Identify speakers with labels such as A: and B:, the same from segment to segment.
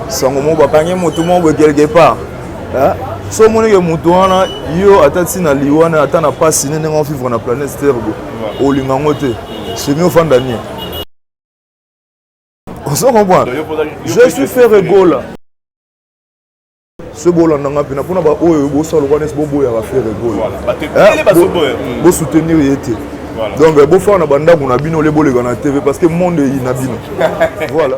A: sango moko bakangi motu moko boye quelque part so omoni ke motu wana yo ata ntina liwa na ata na mpasi ne ndenge ofivre na planète terre boye olinga yango te semi ofanda nie ozo comprendre je suis ferre gola soki bolanda nga mpena mpona baoyo bosala lokola nesi boboyaka ferre gola eh, bosoutenir ye te donc bofanda na bandako na bino ole boleka na tv parce que monde eyi na bino voilà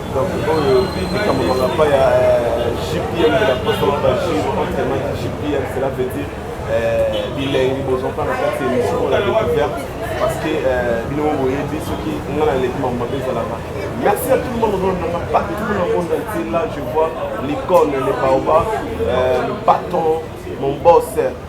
B: Donc oyo likambo mangapa ya JPM de la poste na baji autrement dit JPM cela veut dire bilengi bozwaka na kati émission oyo la découverte parce que bino mo boyebi soki nga na leki mambo mabe ezalaka merci à tout le monde oyo nanga partout na monde entier là je vois l'icône le baoba le patron mon boss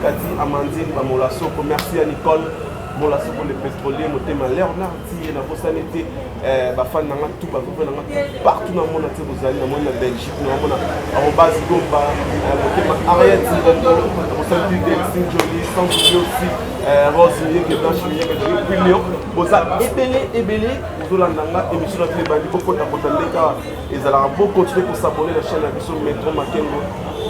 B: Kati Amandine Bamola Soko, merci à Nicole Mola Soko le pétrolier, motema Leonard Tiye, na bosani te eh, bafani na nga tout bakope na nga partout na mona te bozali na moni na Belgique na mona arobase gomba eh, motema Ariette Ngongo na bosani te Delcine Jolie sans oublier aussi eh, Rose Miyeke Blanche Miyeke Jolie puis Lyon boza ebele ebele bozolanda nga émission na bino ebandi kokota kota ndeka ezalaka bo continuer kosabone na chaîne ya biso metro makengo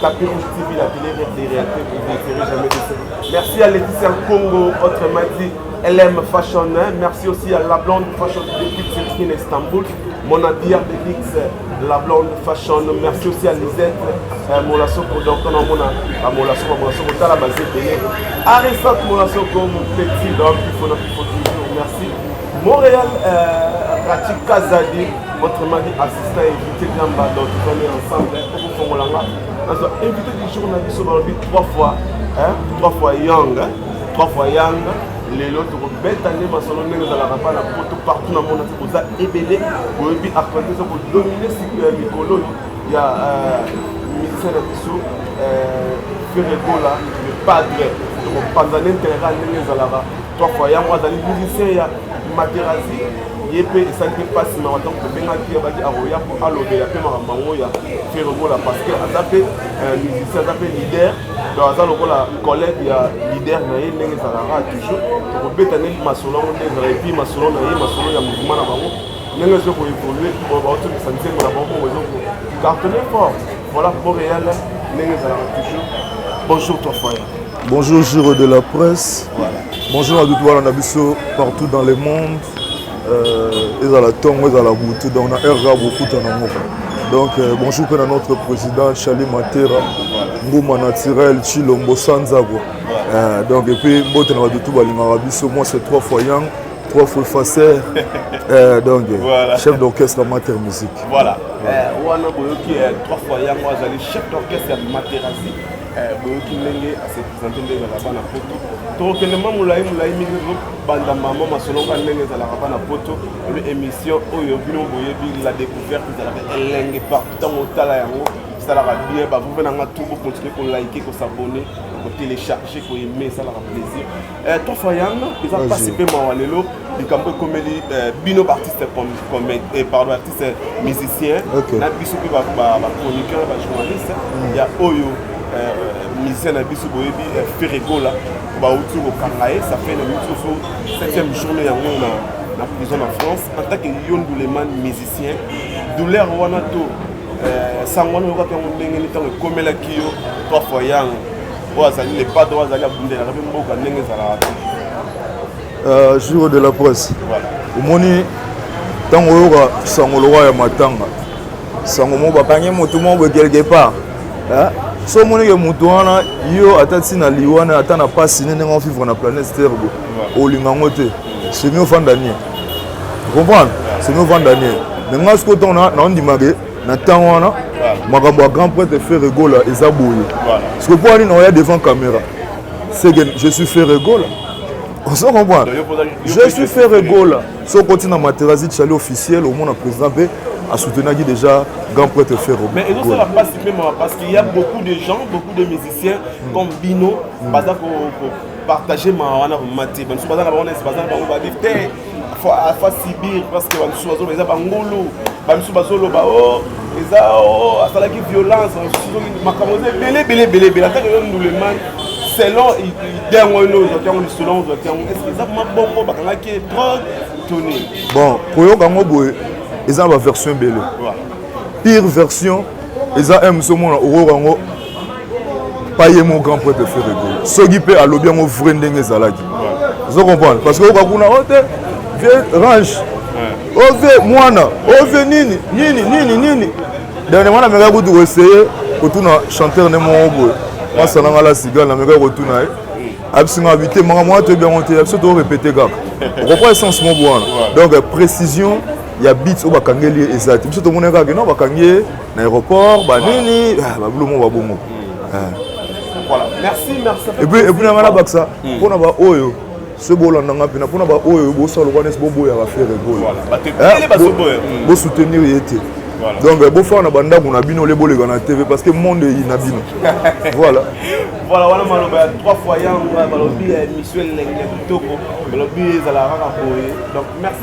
B: tapis rouge tv la télé rêve des réalités vous ne serez jamais déçu merci à Laetitia Congo autre m'a dit LM Fashion hein? merci aussi à la blonde fashion depuis Turquie Istanbul mon habilleur de luxe la blonde fashion merci aussi à Lisette euh, Molasoko donc on a mon à Molasoko Molasoko tala basé payé Arisat Molasoko mon petit donc il faut il faut toujours merci Montréal euh, pratique Kazadi, votre mari assistant invité de l'amba, donc on est ensemble, hein, au Fongolanga. Parce que invité du jour, on a dit sur le trois fois, hein, trois fois young, hein, trois fois young. lelo tokobeta nde masolo ndenge ezalaka mpa na poto partout na mona te boza ebele boyebi actualité eza kodomine siklo ya mikolo ya euh, musicien na biso euh, feregola le padre tokopanza na interera ndenge ezalaka Trois fois yango azali musicien ya Materazzi ye mpe esali mpe mpasi mawa ntango tobengaki abaki akoya mpo alobela mpe makambo yango ya feromola parce que aza mpe euh, musicien aza mpe leader donc aza lokola collègue ya leader na ye ndenge ezalaka toujours tokobeta nde masolo yango nde ezala epuis masolo na ye masolo ya mouvement na bango ndenge ezo koevolue baotokisa nzembo na bango bongo ezo cartonne fort voilà montréal ndenge ezalaka toujours bonjour toi foyer Bonjour Giro
A: de la Presse. Voilà. Bonjour à tout na biso partout dans le monde. Euh, ezala ntongo ezala butu donc na heure kaka bokuta na moko donc euh, bonjour mpe na notre président charlie matera nguma naturel chilombo sanzago euh, donc epuis mbote na bato tu balingaka biso moi c'est trois fois yang trois fois facer euh, donc voilà. chef d'orchestre ya mater musique voilà
B: wana boyoki trois fois yango
A: azali
B: chef d'orchestre ya materasi Eh, boyoki ndenge ase presente nde ezalaka bana poto tokokende mwa molai molai mingi tozobanda mama masolonga ndenge ezalaka bana poto ebe émission oyo bino boyebi la découverte ezalaka elenge partout ntango otala yango esalaka bien bavove na nga tu bokontinue kolike kosabone kotelecharge koyeme esalaka plaisir Eh, toi fayang eza mpasi mpe mawa lelo likambo ekomeli eh, bino baartiste eh, pardon artiste musicien na biso mpe bachroniqueur na bajournaliste mm. ya oyo musicien na biso boyebi feregola bauti kokanga ye ça fait na misusu septième journée yango na na prison na france en tant que yo nduleman musicien douleur wana to sango wana oyokaki yango ndenge ni ntango ekomelaki yo toi fayang oyo azali le padre oyo azali abundelaka mpe mboka ndenge ezalaka te euh, jour de la presse
A: omoni ntango oyoka sango lokola ya matanga sango moko bakangi motu moko boye quelque part so omonike motu wana yo ata ntina liwa na ata na mpasi ne ndenge ofivre na planète terre boye olinga yango te semi ofanda nie comprendre semi ofanda nie me ngai sikoyo ntango naondimake na ntango wana makambo ya grand prêtre ferre gola eza boye siko mpo wani naoya devant caméra seke je suis ferre gola ozo comprendre je suis ferre gola so okoti na materazi chali officiel omona président mpe asoutenaki déjà grand prêtre ferre mais ezosala mpasi mpe
B: mawa parce qu'il y a beaucoup de gens beaucoup de musiciens hmm. comme bino hmm. baza ko partager mawa wana komati bamisu baza na bango nesi baza na bango babive te afa sibir parce que bamisusu bazoloba eza bangulu bamisusu bazoloba o oh, eza o oh, asalaki violence makambo eza ebele ebele ebele ebele atake yo nduleman selon idée yango ino ozwaki yango lisolo yango ozwaki yango estce eza mabongo bakangaki drogue toni bon koyoka
A: yango boye eza na baversion ebele pire version eza m somona okoyoka yango pas ye mon grand poète frère ego soki mpe alobi yango vrai ndenge ezalaki ozo comprendre parce que oyoka kuna o oh, te vie range o oh, vie mwana o oh, vie nini nini nini nini dernier mwana amekaki kutu koessaye kotuna chanteur ne moko boye mwasi ananga la siga namekaki kotuna ye abisi nga bite makambo wana toyebi yango te ya biso torepete kaka okopa essence moko wana donc précision ya bit oyo bakangeli ye eza te biso tomonaki kaka no bakangi ye na aéroport banini ah, babilomo babongo hmm. ah.
B: voilà merci merci et puis et puis nanga
A: nabakisa hmm. mpona baoyo soki bolanda nga mpena mpona baoyo bosala lokola nesi boboyaka fere goyo bosoutenir ye te Voilà. Donc euh, bofana na bandako na bino lebo leka na TV parce que monde est na bino. voilà. Voilà wana
B: maloba ya trois fois yango balobi ya euh, mission lenge kitoko balobi ezala kaka boye. Donc merci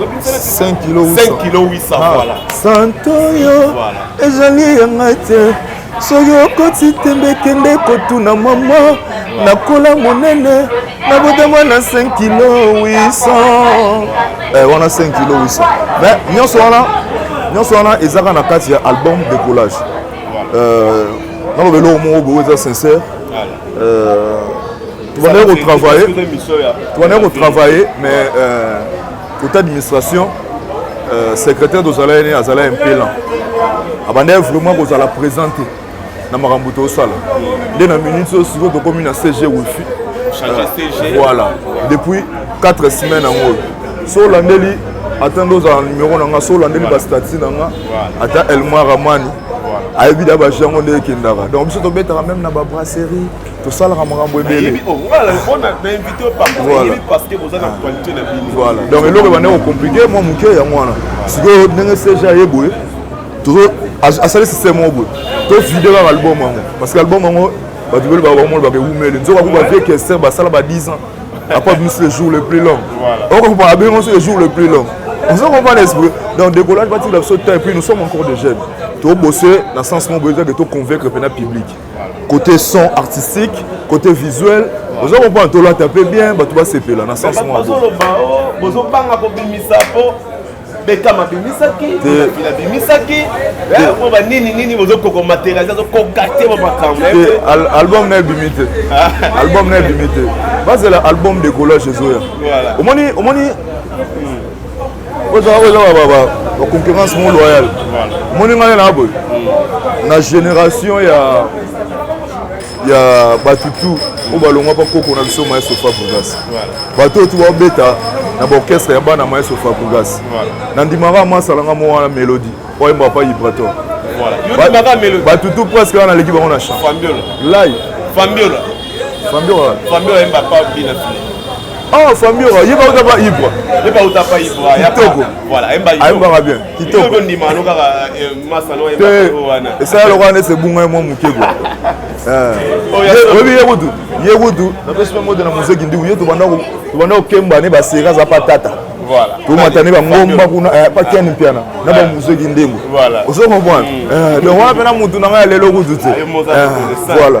A: 5 kilo 800 ah, voilà santo
B: yo
A: ezali ya ngai te soki okoti tembe kende kotuna mama nakola monene nabotama na 5 kilo 800 eh, wana 5 kilo 800 mais nyonso wana nyonso wana ezaka na kati ya album décollage euh, naloba eloko moko boyo eza sincère euh, tobandaki kotravaille tobandaki kotravaille mais euh, côté administration euh, secrétaire tozalaki ne azala impelant abandaki vraiment kozala présent te na makambo tosala nde na minute oyo sikoyo tokomi na cg wifi euh, voilà depuis 4 semaine yango oyo so olandeli ata nde ozala numero na nga so olandeli bastati na nga ata elmar amani ayebi da bajango nde ekendaka donc biso tobetaka meme na babrasserie tosalaka makambo ebele donc eloko ebanda kocomplike mwa moke yango wana sikoyo ndenge cg aye boye asali système moko boye tofide kaka album yango parce que album yango bato bele babakomolobaka ewumeli nzoka kuba vie kester basala ba 10 ans après bimisi le jour le plus long okokupa abengo nso le jour le plus long ozo comprendre esprit donc décollage batikela biso temps et puis nous sommes encore des jeunes tobose na sens moko boyekaki toconvaincre mpena public côté son artistique côté visuel oza comprendre tolata mpe bien bato basepela na sens mwaozoloba oh, bozobanga kobimisa mpo
B: bekam abimisaki abimisaki eh, po banini nini bozokoko materialise azokoka te ba makambo album na
A: ebimi te ah. album na ebimi te bazela album de collage ezoya omoni omoni oza ba concurrence mo loyale omoni ngai na boye na génération ya ya bato tu oyo balongwa mpa koko na biso maestro fabrigas bato oyo tu babeta na baorchestre ya bana maestro fabrigas nandimaka masalanga mo wana mélodie oyo ayembaka mpa ibrator bato tu presque wana naleki bango na champ lai fambiola fambiola fambiola ayemba mpa bina fili Oh, famille oyo yeba uta pa ibra yeba uta pa ibra ya toko voilà emba yo ayembaka bien kitoko yo ndima no kaka eh, masano emba yo wana esala lokola nese bunga mo mukebo eh oyebi ye kutu ye kutu napesi mpe moto na mozeki ndiku ye tobanda kokemba ne basera aza pa tata tomata ne bangomba kuna eh, pa ken mpiana na bamozeki ndembo ozo comprendre mm. eh, donc wana mpe na motu na ngai ya lelo kutu te eh, voilà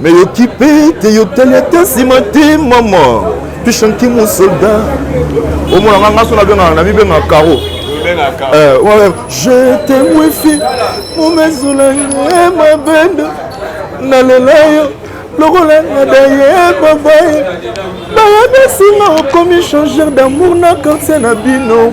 A: Mais yo kipe te yo tali ata nsima te mama tushanki mon soldat omona nga nga so nabengaka na mibenga caro eh, je te wifi momezolange mabende nalela yo lokola nadaye babaye bayebisi nga okomi changer d'amour na quartier na bino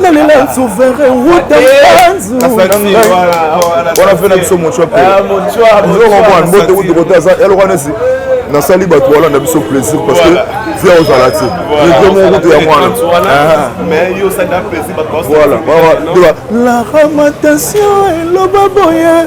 A: nalela nsuvere wuta wana mpe na biso mocoapeokomwana mbote wuti kote aza eloko nesi nasali bato wana na biso plaisir parce que via ozala te eke moko kutu ya mwana
B: voilà
A: la ramatation eloba boye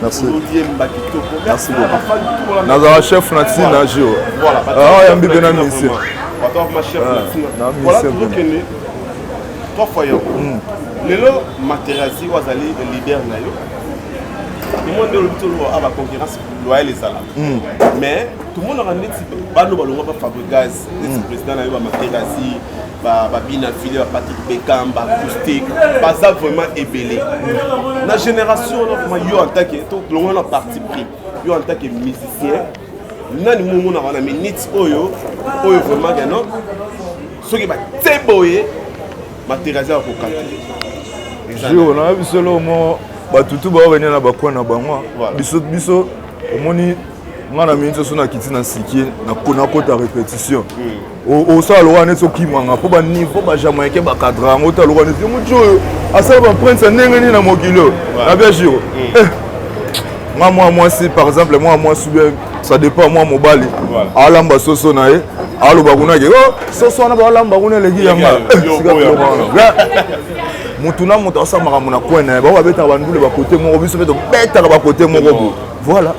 B: Merci. Merci beaucoup.
A: Nazara chef na tina na jio. Voilà. Ah,
B: yambi bena misi.
A: Attends,
B: ma chef na tina. Voilà, tout le kende. Trois fois yo. Hmm. Lelo Materazzi wazali le leader na yo. Tout le monde est le à la concurrence loyale ezala. Hmm. Mais tout le monde a un petit bano balonga ba Fabrigaz. hmm. président na yo bamaterasi babina file ya patrick becam baacoustique baza vraiment ebele na génération wana vraiment yo antake tolongola na parti pris yo antake musicien nani momonaka na minute oyo oyo vraiment keno soki batie boye materasi ya kokata jour na biso
A: lomo bato tu baoyo bania na bakwa na bango biso biso omoni nga na mingi soso nakiti na sikie nakota répétition hmm. osala lokola neti okimanga mpo baniveau bajamaïcain bacadra yango ta lokola neti motu oyo asala baprince ya ndenge nini na mokili oyo na bia jiro hmm. eh, nga mwa mwasi par exemple mwa mwasi bien ça dépend mwa mobali alamba soso na ye aloba kuna ke oh, soso wana balamba kuna eleki yanga motu na moto asala makambo na coin na ye bango babetaka bandule bakote moko biso mpe tobetaka bakote moko bo voilà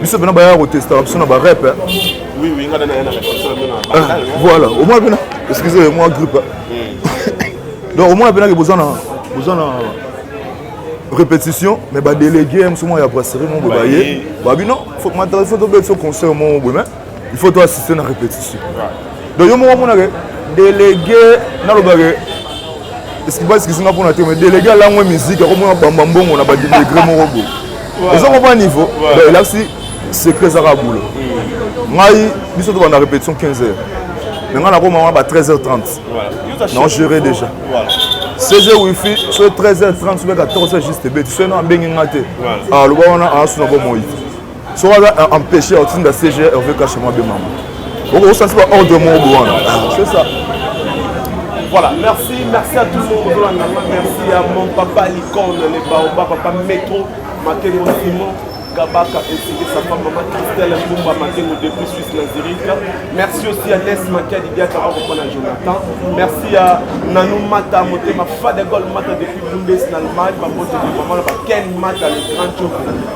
A: biso pena bayaka kotestaka biso na barep voilà omona pena excuse moi grippe hmm. donc omona penake boza na boza na répétition mais badélégué mosu mwa ya brasserie mo boye baye babi non faut matala faut tobeti so concert mo boye mais il faut to assister na répétition donc yo moko amonaka délégué nalobaka eskibaskisinga mpona te mais délégué alangwe musique akomona bamba mbongo na badegre moko boye eza komona niveau donc elakisi secret ezaka boulot mm. ngai biso tobanda répétition 15 heures mais ngai nakoma wana ba 13 heures 30 non géré déjà voilà. 16 heures wifi so 13 heures 30 sobe 14 heures juste ebeti soki na abengi ngai te aloba wana asuna bomoi soki aza empêche ya kotinda cg herve kashe mwa bemama okosansi ba ordre moko bo wana c'est ça
B: Voilà, merci, merci à tout le monde. Merci à mon papa l'icône, les baobas, papa Métro, Makengo Simon, Kabaka ainsi que sa femme maman Christelle Mbumba Makengo depuis Suisse la Zurich. Merci aussi à Ness Makadi Diaka Arokona Jonathan. Merci à Nanou Mata Motema Fadegol Mata depuis Bundes en Allemagne. Maman Ken Mata le grand jour.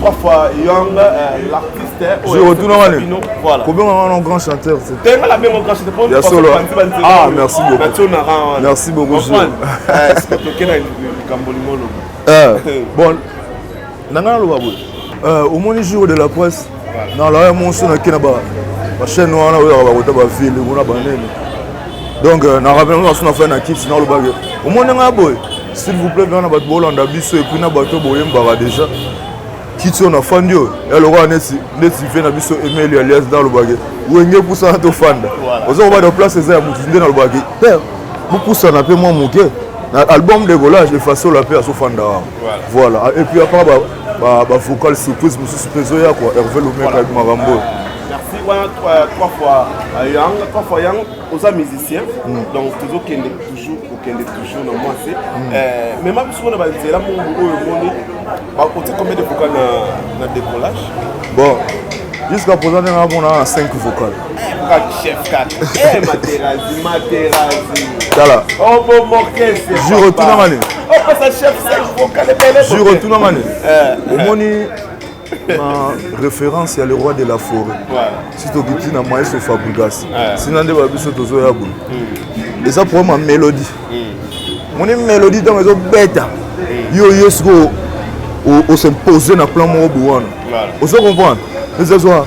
B: trois fois young euh,
A: l'artiste kobengaka
B: wana grand
A: chanteur
B: ya solo ah
A: merci beaucoup merci beaucoup bon na ngai naloba boye omoni jour de la presse na laya monso nake na bachaine wana oyaka bakota bavile kuna banene donc euh, na rappele masu na fai na kiti nalobaki omoni ngai boye s'il vous plaît bana bato bolanda biso epuis na bato boyembaka déjà kiti oyo nafandi oyo ya lokola neti neti vie na biso emeli alias nalobaki wenge epusana tofanda oza kobada place eza ya motu nde nalobaki père bopusana mpe mwa moke na album de collage efasolo mpe azofanda wana voilà epuis apart ba ba vocal surprise mususu pe zoya quoi Hervé Lomeka avec Marambo merci wana
B: euh, trois fois euh, yang trois fois yang oza musicien mm. donc tozokende toujours kokende toujours na mwasi mm. euh, mema biso mpona banzela mongo oyo omoni bakoti combien de vocal na, na décollage bon
A: jusqu'à présent ndenge namona na 5 vocal
B: tala jour otunanga
A: nini
B: jour otunanga
A: nini omoni na référence ya le roi de la forêt si toki ntina maestro fabrigas sina nde ba biso tozoya boye hmm. eza problème ya mélodie hmm. moni mélodie ntango ezobeta hmm. yo yo sikoyo os'impose na plan moko bowana ozo comprendre ezazwa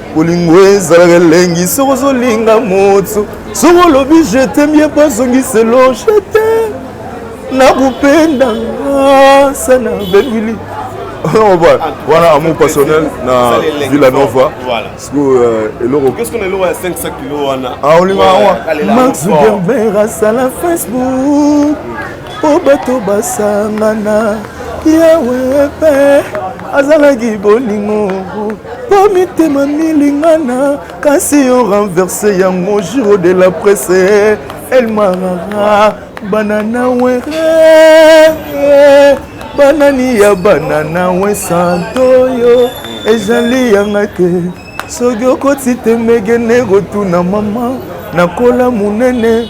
A: bolingo ezalaka elengi soki ozolinga moto soki olobi jetemie bazongiselo jete nakupenda sana bengili wana amour passionnel na villa nova sikoyo
B: euh, eloko ah, olinga yango
A: max gerber asala facebook mpo bato basangana yawe mpe azalaki bolingo mpo mitema milingana kasi yo renverse yango juro de la presse elmarara bana na were banani ya bana na we santo yo ezali yanga te soki okoti te megene kotuna mama nakola monene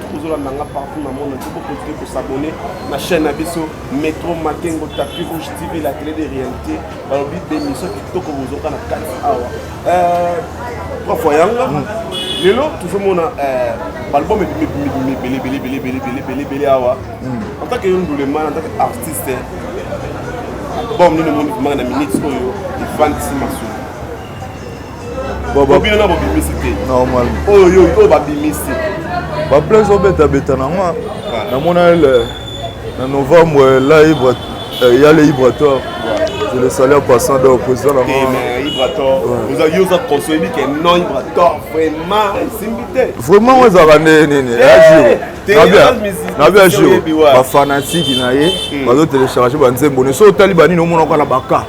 B: ozolanda nga partout na monde entier bokontinue kosabone na chaîne na biso metro makengo tapi rouge tv la télé de réalité balobi bemission kitoko bozoka na kati awa euh, trois fois yanga mm. lelo tozomona euh, baalbum ebelebelebelebelebelebelebele awa mm. en tant que yo nduleman en tant que artiste album nini omoni komaka na minute oyo efandisi masolo bobino na bobimisi te normal oyo
A: oyo
B: babimisi baple
A: ezobetabeta na nga namona na novembre la ibre euh, ya le ibratoire je le salue en passant donc président na nga eh, yo
B: oza conseille bike non ibratoire vraiment esimbi te vraiment oyo ezalaka nde
A: nini eh, nabi ya jour bafanatiki na ye hmm. bazotelecharge banzembo ne so otali banini omonaka na baka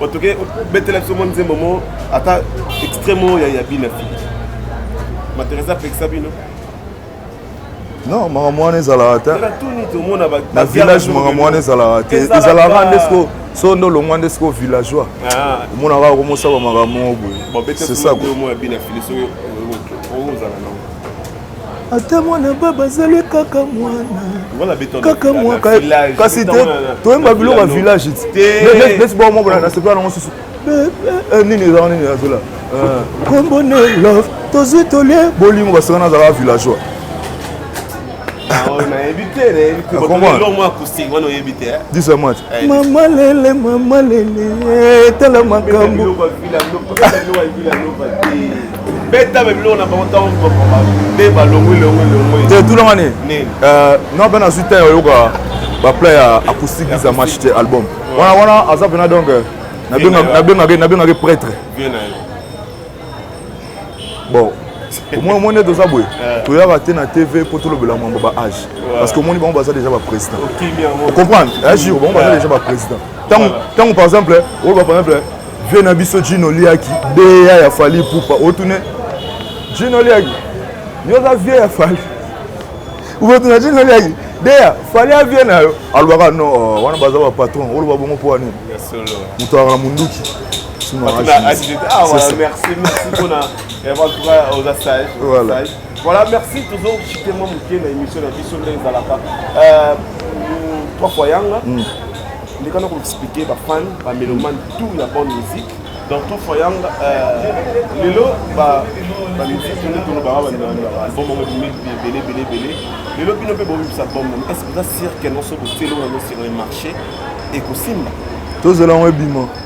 B: otoke obetela biso mwa nzembo mo ata extremo ya ya bina fili materesa apekisa bino
A: non makambo wana ezalaka te
B: na village makambo wana
A: ezalaka te ezalaka nde siko so nde olongwa nde siko villageois ah. omonaka okomosaba makambo moko boye c'est ça
B: ata
A: mwana baba azali kaka mwana kaka mwaka kasi te toyemba biloko ya village neti bao moko na sepela nango susu nini ezaka nini azola kombo ne love tozwi tolie bolingo basaka nazalaka villageois disa match mama lele mama lele tala makambo
B: beta ba biloko na bango ntango bakoma nde balongwi longwi longwi te tulanga
A: nini nini euh, non mpe nazwi temps oyoka bapla ya acoustique isa match te album wana wana aza mpena donc euh, nabengaki prêtre bon omoni omoni ete oza boye euh. toyaka te na tv mpo tolobela mambo ba age parce que omoni bango baza déjà baprésident ocomprendre agir bango baza déjà baprésident ntango par exemple oloba par exemple vie na biso jino liaki deya ya fali pupa otune jino liaki yo oza vie ya fali obotuna jino liaki deya fali ya vie na yo alobaka no oh, wana baza bapatron oloba bongo mpo wanini moto azaka na monduki Voilà,
B: merci toujours. Je suis tellement motivé dans l'émission de la Bisso, trois fois Yanga. Mm. ndeka na koexplike bafan bamelomane tout ya bonne musique dans tout foyanga euh, lelo bamusike nde tono banga album yango ebimi ebele ebele ebele lelo bino mpe bobimisa album nano est ce que oza sirke nonso botielo nano sur le marché ekosimba tozela yango
A: ebima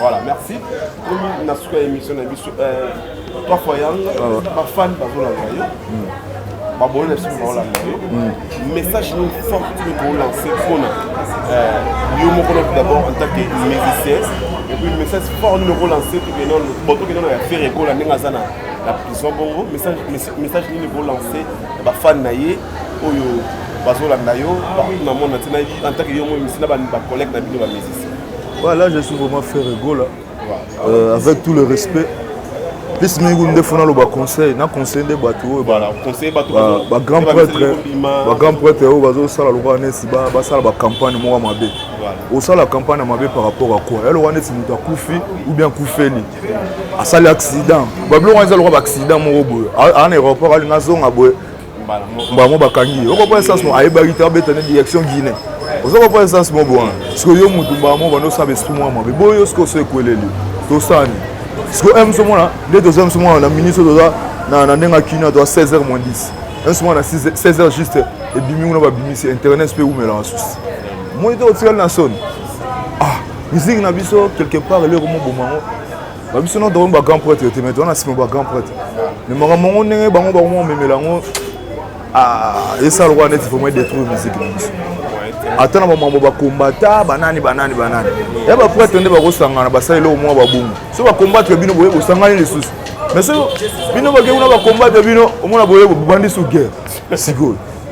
A: voilà merci
B: komi na suka ya émission na biso euh, trois fois yang bafani bazolanda yo babolo na biso baolanda yo message no fort tini koolance mpona yo moko na d'abord en tant que musicien epuis message fort nini okolance botokende na ya fere ekola ndenge aza na la prison bongo message nini koolance bafani na ye oyo bazolanda yo partout na monde na ntina en tant que yo moi misi na bacollègue na bino bamusicien Ouais, là, je suis
A: vraiment fait Gola. Euh, avec tout le respect. Plus mingi nde fona loba conseil na conseil nde bato oyo
B: bagrand prêtre
A: bagrand prêtre oyo bazosala lokola neti basala bacampagne moko mabe osala campagne ya mabe par rapport à quoi yalokola neti moto akufi ou bien akufeli asali accident babiloko eza lokola baaccident moko boye aa na aéroport alinga azonga boye mbala yango bakangi ye okopa essence mo ayebaki te abeta ne direction guine oza kopa essence mo bwana siko yo motu mbala mo banda osala esprit mwa mabe boyo siko oso ekweleli tosani siko m somona nde toza m somona na ministre toza na ndenge akina toza 16 heures moins 10 m somona na 16 heures juste ebimi kuna babimisi internet mpe eumelaka susi moni te otikali na soni ah musique na biso quelque part eloko moboma yango ba biso no tokomi ba grand prêtre yo te mais towana nsima ba grand prêtre mais makambo yango ndenge bango bakoma komemela yango ah, esala lokola neti vraimen détruire musique na biso ata na bamambo bakombata banani banani banani ya baprêtre nde bakosangana basala eloko mwa babungu so bakombatre bino boye bosangani lisusu mais so bino bakei kuna bakombatre bino omona boye bobandi su guerre sikoyo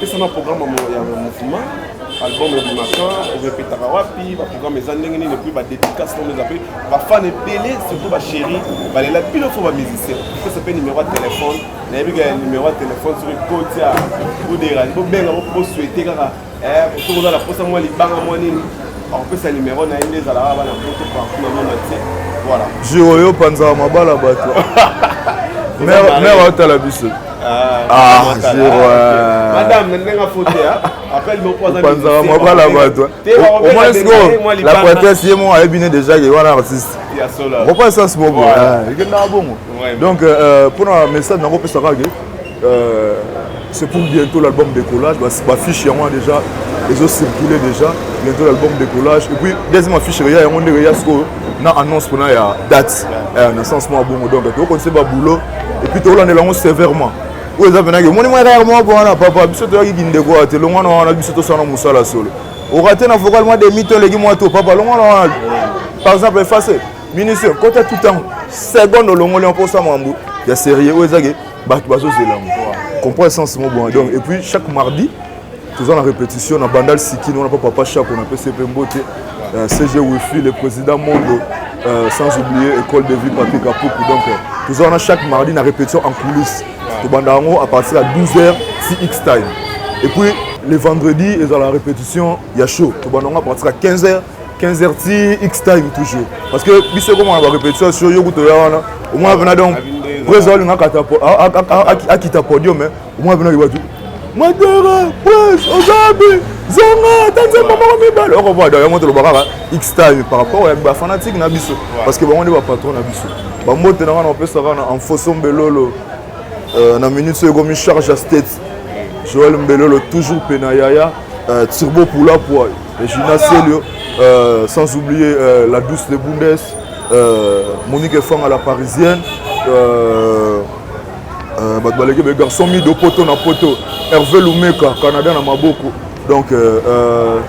B: pesa na programme ya mofuma album ebimaka orepetaka wapi baprogramme eza ndenge nini epui badedicace oyo eza mpe bafane ebele surtout bachéri balela bino fo bamusicien pesa mpe numero ya telefone nayebi kaka numero ya telefone soki kotia boderani bobenga bosuete kaka Eh, soki oza na mposa
A: mwa libanga mwa nini akopesa nimero na ye nde ezalaka bana poto partout na mona te voilà jour oyo opanzaka
B: mabala bato mère aotala biso ah, ah, euh, madame na ndenge afote opanzaka mabala bato
A: omoni sikoyo la prêtresse ye moko ayebi ne déjà ke wana artiste okopa essence moko ekendaka bongo donc euh, euh, mpo na message nango opesaka ke Euh, c'est pour bientôt l'album décollage bafiche yango wana déjà ezo circule déjà bientôt l'album décollage et puis deuxième affiche eya yango ndenge eya sikoyo na annonce mpona ya date euh, na sens mwa bongo donc tokokonise baboulot et puis tokolandela yango sévèrement oyo eza mpenaki omoni mwa kaka mwa bwana papa biso toyaki kindeko wana te longwana wana biso tosala mosala solo okate na vocal mwa demi to eleki mwa to papa longwana wana par exemple efase ministre kota tout temps seconde olongoli mpo osa mambo ya serie oyo ezaki bato bazozela yango comprendre sens mo bon donc et puis chaque mardi toza na répétition na bandal sikini wana mpo papa shako na pesi mpe mbote euh, cg wifi le président mondo euh, sans oublier école de vie papier kapuku donc euh, toza wana chaque mardi na répétition en coulisse tobanda yango à partir ya 12 heures tx time et puis le vendredi ezala répétition ya show tobanda yango à partir ya 15 heures 15h ti X time toujours parce que biso comme on a répétition sur yo kuto ya wana au moins vena donc président linga kata akita podium mais au moins vena libatu madera prince ozabi zonga ata nzembo moko mibale okovoa donc yango toloba kaka x time par rapport ya bafanatique na biso parce que bango nde bapatron na biso bambote na ngai na opesa kaka na enfoso mbelolo euh, na minute soyo ekomi charge ya state joel mbelolo toujours mpe na yaya euh, turbo poula poil Regina Celio, euh, sans oublier euh, la douce de Bundes, euh, Monique Efang à la parisienne, euh, euh, bato baleki be garçon mido poto na poto herve lumeka canada na maboko donc euh, euh,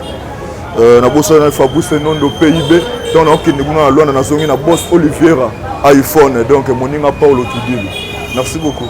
A: euh, nabosana fabrice nondo pib ntango naokende kuna na lwanda nazongi na bos oliviera iphone donc moninga paulo tudili merci beaucoup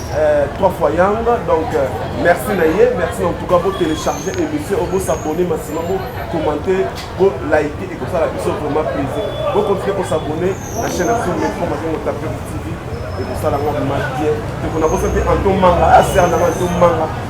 B: Euh, trois fois yang donc euh, merci na ye merci en tout cas bo télécharger émission bo s'abonner maximum bo commenter bo liker et kosala biso vraiment plaisir bo continuer ko s'abonner na chaîne ya biso metro matongo tape tv ekosala ngo ma bien tokona kosa te anto manga aser nanga anto manga